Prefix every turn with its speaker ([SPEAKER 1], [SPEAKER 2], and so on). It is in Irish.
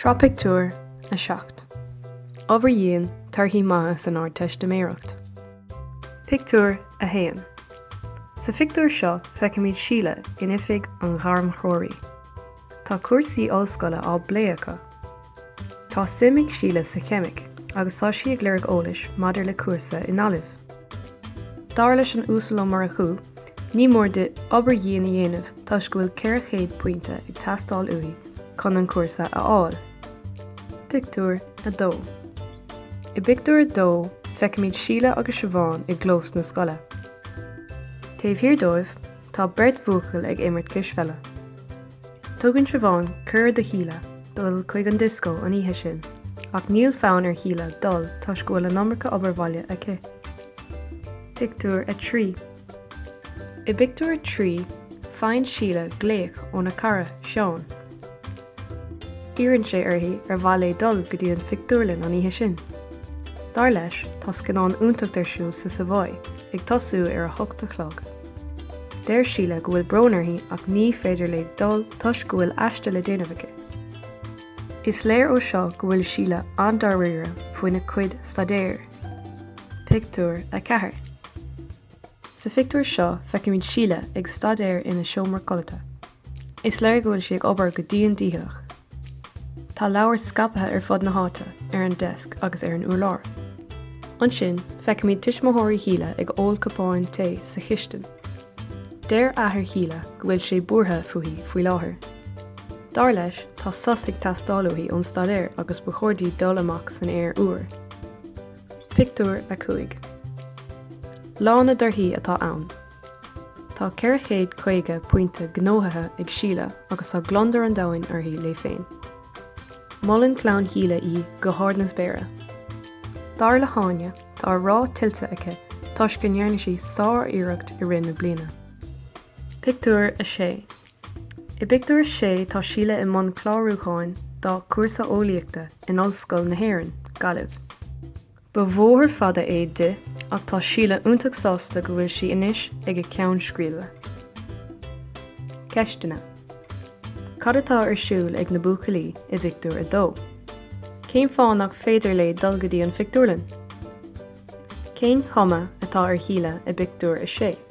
[SPEAKER 1] Sraith pictiúr a seacht. Obair dhian, torthaí maithe san Ardteistiméireacht. Pictiúr a haon. Sa phictiúr seo feicimid Síle in oifig an ghairmthreoraí. Tá cúrsaí ollscoile á bplé acu. Tá suim ag Síle sa cheimic agus tá sí ag lorg eolais maidir le cúrsa i nGaillimh. Dar leis an Uasal Ó Murchú, ní mór di obair dhian a dhéanamh toisc go bhfuil 400 pointe ag teastáil uaithi chun an cúrsa a fháil. Pictiúr 2 I bpictiúr a dó feicimid Síle agus Siobhán i gclós na scoile. Taobh thiar dóibh, Tá beirt bhuachaill ag imirt cispheile. Tugann Siobhán cuireadh do Shíle dul chuig an dioscó an oíche sin, ach níl fonn ar Shíle dul toisc go bhfuil an iomarca obair bhaile aici. Pictiúr 3 I bpictiúr a trí, faigheann Síle glaoch óna cara, Seán. Iarrann sé uirthi ar mhaith léi dul go dtí an phictiúrlann an oíche sin. Dar leis, tá scannán iontacht ar siúl sa Savoy ag tosú ar a hocht a chlog. Deir Síle go bhfuil brón uirthi ach ní féidir léi dul toisc go bhfuil aiste le déanamh aici. Is léir ó seo go bhfuil Síle an-dáiríre faoina cuid staidéir. Pictiúr 4. Sa phictiúr seo feicimid Síle ag staidéar ina seomra codlata. Is léir go bhfuil sí ag obair go dian dícheallach. Tá leabhair scaipthe ar fud na háite, ar an deasc agus ar an úrlár. Ansin feicimid tuismitheoirí Shíle ag ól cupáin tae sa chistin. Deir athair Shíle go bhfuil sé buartha fúithi faoi láthair. Dar leis tá sos ag teastáil uaithi ón staidéar agus ba chóir di dul amach san aer úr. Pictiúr 5. Lá na dtorthaí atá ann Tá 450 pointe gnóthaithe ag Síle agus tá gliondar an domhain uirthi léi féin. Molann clann Shíle í go hard na spéire. Dar le hÁine, tá an rath tuillte aici toisc go ndearna sí sár-iarracht i rith na bliana. Pictiúr 6. I bpictiúr 6 tá Síle i mbun clárúcháin dá cúrsa eolaíochta in Ollscoil na hÉireann, Gaillimh. Ba bhóthar fada é di ach tá Síle iontach sásta go bhfuil sí anois ag a ceann scríbe. Ceisteanna Cad atá ar siúl ag na buachaillí i bpictiúr 2? Cén fáth nach féidir léi dul go dtí an phictiúrlann? Cén chuma atá ar Shíle i bpictiúr 6?